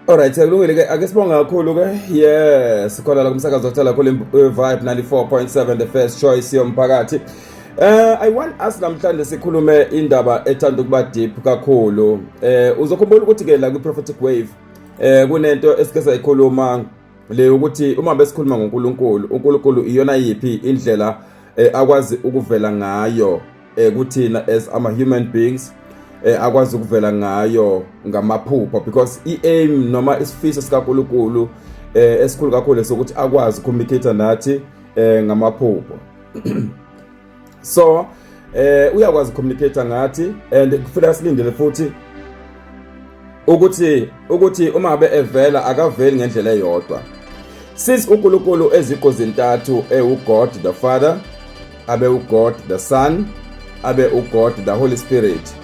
Alright, kulungile ke ake sibonga kakhulu ke. Yes, khona la kumsakazo othola kule eh, Vibe 94.7 the first choice yomphakathi. Eh I want us namhlanje sikhulume indaba ethanda ukuba deep kakhulu. Eh uzokhumbula ukuthi ke la ku prophetic wave eh kunento esike sayikhuluma le ukuthi uma besikhuluma ngoNkulunkulu, uNkulunkulu iyona yipi indlela eh, akwazi ukuvela ngayo. eh kuthina as ama human beings eh akwazi ukuvela ngayo ngamaphupho because iaim noma isifiso sikaNkuluNkulu eh esikhulu kakhulu lesokuthi akwazi communicate nathi eh ngamaphupho so eh uyakwazi communicate ngathi and kufanele silindele futhi ukuthi ukuthi uma ngabe evela akaveli ngendlela eyodwa since uNkulunkulu eziko zintathu ewuGod the Father abe uGod the Son abe uGod the Holy Spirit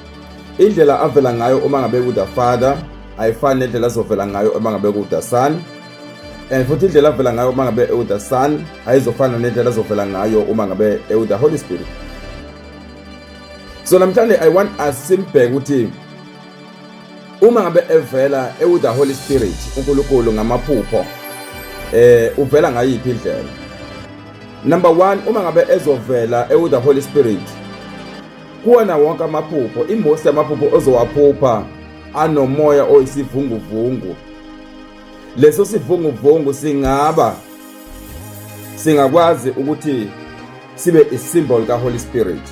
indlela avela ngayo uma ngabe ku the Father ayifani nendlela azovela ngayo uma ngabe ku the Son and futhi indlela avela ngayo uma ngabe ewu the Son ayizofana nendlela azovela ngayo uma ngabe ewu the Holy Spirit so namhlanje i want us simbheke ukuthi uma ngabe evela ewu the holy spirit uNkulunkulu ngamaphupho eh uvela ngayiphi indlela number 1 uma ngabe ezovela ewu the holy spirit kuwona wonke amaphupho imosi yamaphupho ozowaphupha anomoya oyisivunguvungu leso sivunguvungu singaba singakwazi ukuthi sibe isimboli kaHoly Spirit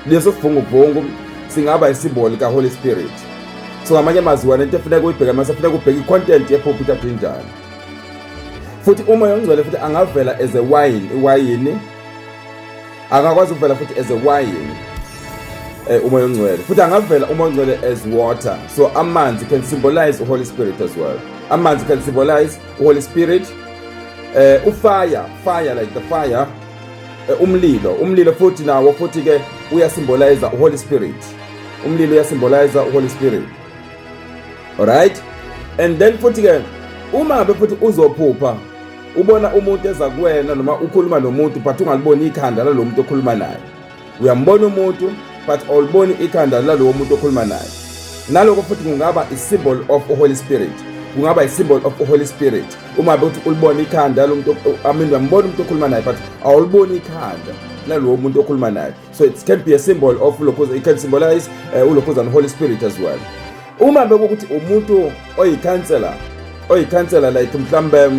leso sivunguvungu singaba isimboli kaHoly Spirit so ngamanye amazwi wena into efuneka uyibheke mase funeka ubheke icontent yephuphuta njani futhi uma yongcwele futhi angavela as a wine iwayini akakwazi ukuvela futhi as a wine eh, umoya ongcwele futhi angavela umoya ongcwele as water so amanzi can symbolize uholy spirit as well amanzi can symbolize uholy spirit eh, ufire fire like the fire eh, umlilo umlilo futhi nawo futhi ke uyasymbolize uholy spirit umlilo uyasymbolize uholy spirit alright and then futhi ke uma be futhi uzophupha ubona umuntu eza kuwena noma ukhuluma nomuntu but ungaliboni ikhanda lalo muntu okhuluma naye uyambona umuntu but awuliboni ikhanda lalowo muntu okhuluma naye naloko futhi kungaba i-symbol of holy spirit kungaba i-symbol of holy spirit uma bethi ulibona ikhanda lomuntu amin uyambona umuntu okhuluma naye but awuliboni ikhanda lalowo muntu okhuluma naye so it can be a symbol of lokhuza it can symbolize uh, eh, ulokhuza and holy spirit as well uma bekukuthi umuntu oyikhansela oyikhansela like mhlambe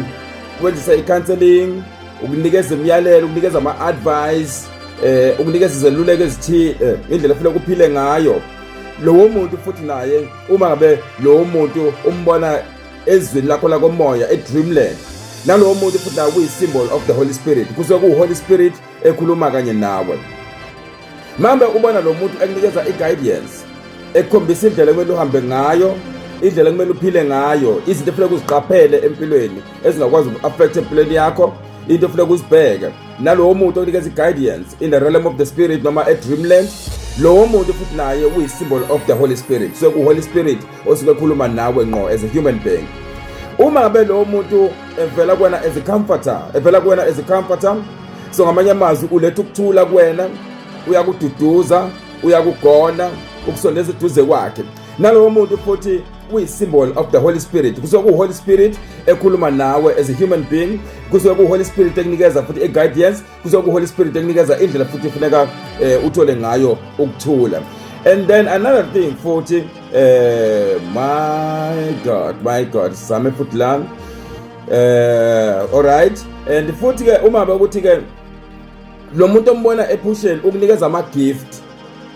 wenzisa i-counseling ukunikeza imiyalelo ukunikeza ama-advice eh ukunikeza izeluleko ezithile eh, indlela efuna ukuphile ngayo lowo muntu futhi naye uma ngabe lowo muntu umbona ezweni lakho lakomoya edreamland nalowo muntu futhi naye kuyi-symbol of the holy spirit kusuke kuwu-holy spirit ekhuluma kanye nawe mambe ubona lo muntu ekunikeza i-guidance ekukhombisa indlela ekumele uhambe ngayo indlela ekumele uphile ngayo izinto efuneka uziqaphele empilweni ezingakwazi uku-affect empilweni yakho into efuneka uzibheke nalowo muntu okunikeza i-guidance in the realm of the spirit noma e-dreamland lowo muntu futhi naye uyi-symbol of the holy spirit so ku-holy spirit osuke ekhuluma nawe ngqo as a human being uma ngabe lowo muntu evela kuwena as a comforter evela kuwena as a comforter so ngamanye amazwi uletha ukuthula kuwena uyakududuza uyakugona ukusondeza eduze kwakhe nalowo muntu futhi uyi-symbol of the holy spirit kusuke kuwuholy spirit ekhuluma nawe as a human being kusuke kuwuholy spirit ekunikeza futhi i-guidance kusuke kuwuholy spirit ekunikeza indlela futhi ifuneka um eh, uthole ngayo ukuthula and then another thing futhi um my god my god same futhi lami eh alright and futhi ke uma bekuthi ke lo muntu ombona ephusheni ukunikeza ama gift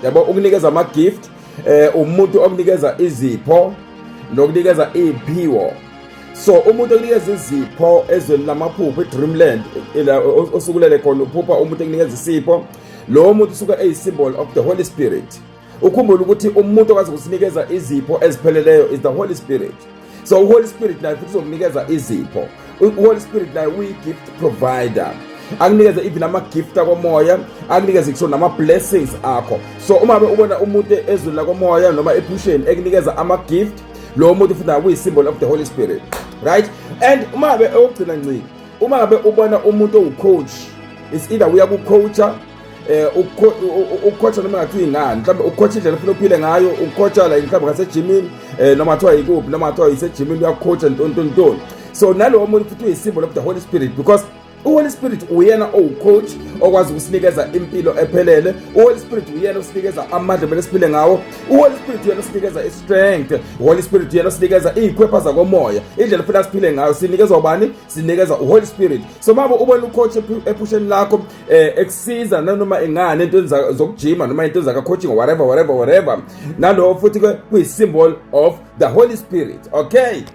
yabo ukunikeza ama gift eh umuntu okunikeza izipho nokunikeza iphiwo so umuntu okunikeza izipho ezweni lamaphupho edreamland osukulele khona uphupha umuntu ekunikeza isipho lowo muntu usuke eyisymbol of the holy spirit ukhumbule ukuthi umuntu okwazi ukusinikeza izipho ezipheleleyo is the holy spirit so uholy spirit naye futhi uzokunikeza izipho uholy spirit naye uyi-gift provider akunikeze even ama-gift akomoya akunikeze kusho nama-blessings akho so uma ubona umuntu ezweni lakomoya noma ephusheni ekunikeza ama-gift lowo muntu futhi naye kuyi-symbol of the holy spirit right and uma be okugcina nciki uma ngabe ubona umuntu owucoach is either uya kucoacha eh ukukhotha noma ngathi ingani mhlawumbe ukukhotha indlela ufuna uphile ngayo ukukhotha la mhlawumbe ngasejimini eh noma kuthiwa yikuphi noma kuthiwa yisejimini uyakhotha ntontontoni so nalowo muntu futhi uyisimbo lokuthi holy spirit because uholy spirit uyena owucoach okwazi ukusinikeza impilo ephelele uholy spirit uyena osinikeza amandla kumele siphile ngawo uholy spirit uyena osinikeza istrength uholy spirit uyena osinikeza iy'khwepha zakomoya indlela funa siphile ngayo sinikezwa ubani sinikeza uholy spirit so mabo ubona ucoach ephusheni lakho eh ekusiza nanoma ingane into enza zokujima noma into enza ka coaching whatever whatever whatever nalowo futhi kuyi symbol of the holy spirit okay